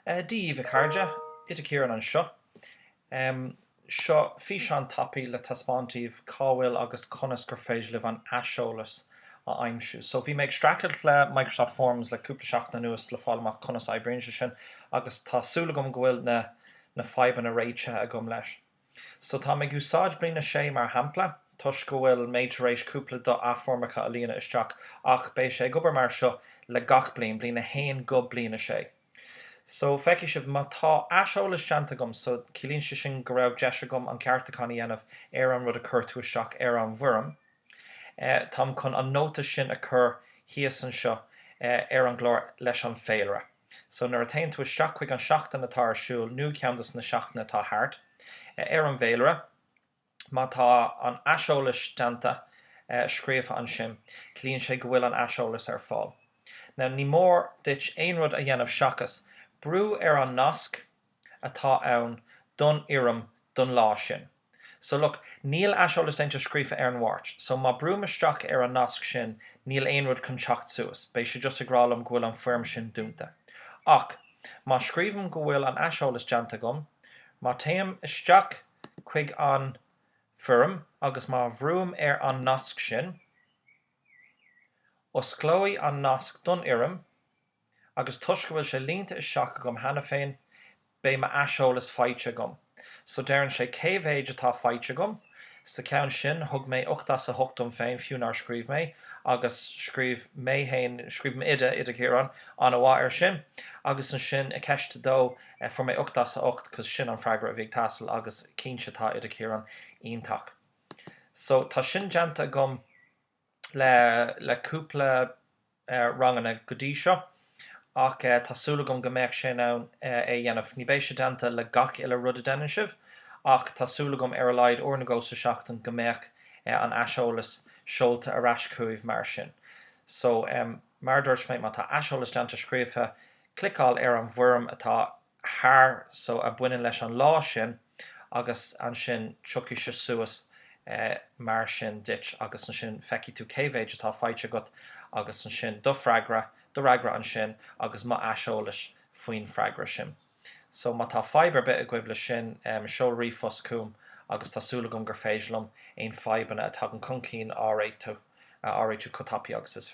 Daoibh, a chairde, Oide Ciarán anseo. Seo físeán tapaidh le taispeáint daoibh cá bhfuil agus conas gur féidir libh an aiseolas a aimsiú. So, bhí mé ag streachailt le Microsoft Forms le cúpla seachtain anuas le fáil amach conas a oibríonn sé sin agus tá súil agam go bhfuil na fadhbanna réitithe agam leis. So tá mé ag úsáid bliain a sé mar shampla toisc go bhfuil mé tar éis cúpla do na foirmeacha a líonadh isteach ach beidh sé ag obair mar seo le gach bliain, bliain a haon go bliain a sé. So feicfidh sibh, má tá aiseolas déanta agam so ciallaíonn sé sin go raibh deis agam an ceartúchán a dhéanamh ar an rud a chuir tú isteach ar an bhfoirm. Táim chun an nóta sin a chur thíos anseo ar an gclár leis an féilire. So nuair a théann tú isteach chuig an tseachtain atá ar siúl nó ceann dos na seachtainí atá thart, ar an bhféilire, má tá an aiseolas déanta, scríofa ansin, ciallaíonn sé go bhfuil an aiseolas ar fáil. Now ní mór duit aon rud a dhéanamh seachas brú ar an nasc, atá ann don fhoirm don lá sin. So look, níl aiseolas déanta scríofa ar an Mháirt, so má brúim isteach ar an nasc sin, níl aon rud chun teacht suas, beidh sé just ag rá liom go bhfuil an foirm sin dúnta. Ach, má scríobhaim go bhfuil an aiseolas déanta agam, má téim isteach chuig an foirm agus má bhrúim ar an nasc sin, osclóidh an nasc don fhoirm, agus toisc go bhfuil sé líonta isteach agam cheana féin, beidh m'aiseolas faighte agam. So deireann sé cé mhéid atá faighte agam. Sa ceann sin, thug mé ocht as a hocht dom féin, fiú nár scríobh mé, agus scríobh mé féin, scríobh m'oide, Oide Ciarán, an-mhaith air sin. Agus ansin, i gceist a dó, fuair mé ocht as a hocht, cos sin an freagra a bhí ag teastáil, agus cinnte tá Oide Ciarán iontach. So, tá sin déanta agam. le cúpla ranganna go dtí seo ach tá súil agam go mbeidh mé in ann é a dhéanamh. Ní bheidh sé déanta le gach uile rud a deineann sibh ach tá súil agam ar a laghad uair nó dhó sa seachtain go mbeadh an aiseolas seolta ar ais chugaibh mar sin. So, mar a dúirt mé, má tá aiseolas déanta scríofa cliceáil ar an bhfoirm atá thart so a bhaineann leis an lá sin agus ansin tiocfaidh sé suas mar sin duit agus ansin feicfidh tú cé mhéid atá faighte agat agus ansin do freagra, do fhreagra ansin agus mo aiseolas faoin freagra sin. So má tá fadhb ar bith agaibh le sin seol ríomhphost chugam agus tá súil agam gur féidir liom aon fadhbanna a tagann chun cinn a réiteach, a réiteach chomh tapaidh agus is.